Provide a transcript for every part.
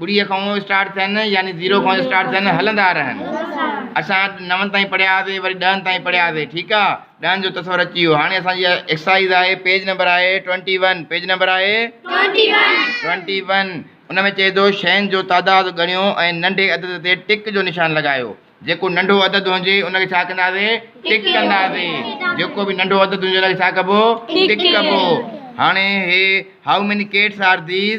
ٻڙي کان اسٽارٽ ٿين يعني زيرو کان اسٽارٽ ٿين هلندا رهن اسان نون تائين پڙهيا هئاسي وري ڏهن تائين پڙهيا هئاسي ٺيڪ آ ڏهن جو تصور اچي ويو هاڻي اسان جي ايڪسرسائز آهي پيج نمبر آهي ٽوئنٽي ون پيج نمبر آهي ٽوئنٽي ون ان ۾ چئي ٿو شين جو تعداد ڳڻيو ۽ ننڍي عدد تي ٽڪ جو نشان لڳايو جيڪو ننڍو عدد هجي ان کي ڇا ڪنداسي ٽڪ ڪنداسي جيڪو به ننڍو عدد هجي ان کي ڇا ڪبو ٽڪ ڪبو هاڻي هي how many cats are these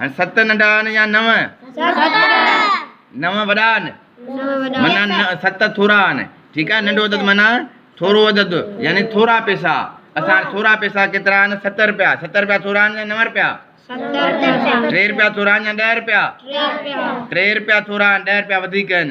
هن ست ننڍا آهن يا نو؟ نو وڏا آهن منا ست ٿورا آهن ٺيڪ آهي ننڍو عدد منا ٿورو عدد يعني ٿورا پيسا اسان ٿورا پيسا ڪيترا آهن ست رپيا ست رپيا ٿورا آهن يا نو رپيا ٽي رپيا ٿورا آهن يا ڏهه رپيا ٽي رپيا ٿورا آهن ڏهه رپيا وڌيڪ آهن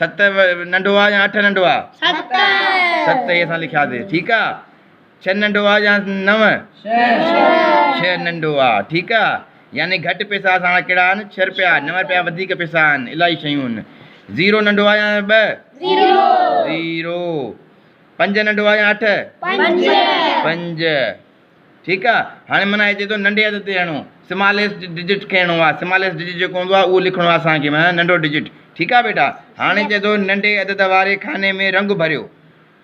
ست ننڍو آ يا اٺ ننڍو آ ست ست هي اسان لکيا سي ٺيڪ آ ڇهه ننڍو آ يا نو ڇهه ننڍو آ ٺيڪ آ يعني گهٽ پيسا اسان وٽ ڪهڙا آهن ڇهه رپيا نو رپيا وڌيڪ پيسا آهن الائي شيون آهن زيرو ننڍو آ يا ٻه زيرو پنج ننڍو آ يا اٺ پنج ٺيڪ آ هاڻي معنيٰ هي چئي ٿو ننڍي عدد تي هڻو سماليس ڊجٽ کڻڻو آ سماليس ڊجٽ جيڪو هوندو آ اهو لکڻو آ اسان کي معنيٰ ننڍو ڊجٽ ٺيڪ آ بيٽا هاڻي چئي ٿو ننڍي عدد واري خاني ۾ رنگ ڀريو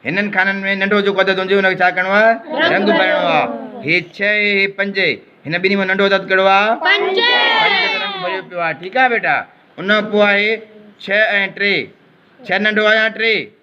هنن خانن ۾ ننڍو جيڪو عدد هوندو ان کي ڇا ڪرڻو آ رنگ ڀرڻو آ هي 6 هي 5 هن ٻنهي مان ننڍو عدد ڪهڙو آ 5 رنگ ڀريو پيو آ ٺيڪ آ بيٽا ان کان پوء آهي 6 ۽ 3 6 ننڍو آ يا 3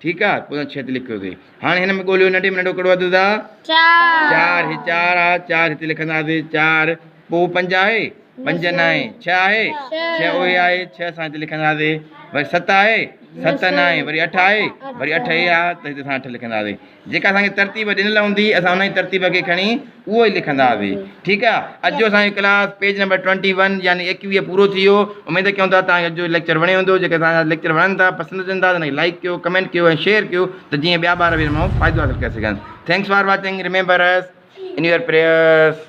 ٺيڪ آ پوء ڇت لکيوسي هاڻي هن ۾ ڳوليو ننڍي ۾ ننڍو ڪهڙو عدد آ چار هي چار آ چار هتي لکنداسي چار پوء پنج آهي پنج ناهي ڇهه آهي ڇهه اهي آهي ڇهه سان هتي لکنداسي وري ست آهي ست ناهي وري اٺ آهي وري اٺ هي آ ته هتي اسان اٺ لکنداسي جيڪا اسانکي ترتيب ڏنل هوندي اسان انهي ترتيب کي کڻي اهو ئي لکنڌاسي ٺيڪ آ. اڄ جو اسان جو class page number twenty one يعني ايڪويهه پورو ٿي ويو اميد ڪيون ٿا توهان کي اڄ جو ليڪچر وڻيو هوندو جيڪي اسان جا ليڪچر وڻن ٿا پسند اچن ٿا ته ان کي لائڪ ڪيو ڪمينٽ ڪيو ۽ شيئر ڪيو ته جيئن ٻيا ٻار به ان مان فائدو حاصل ڪري سگهن thanks for watching remember us in your prayers.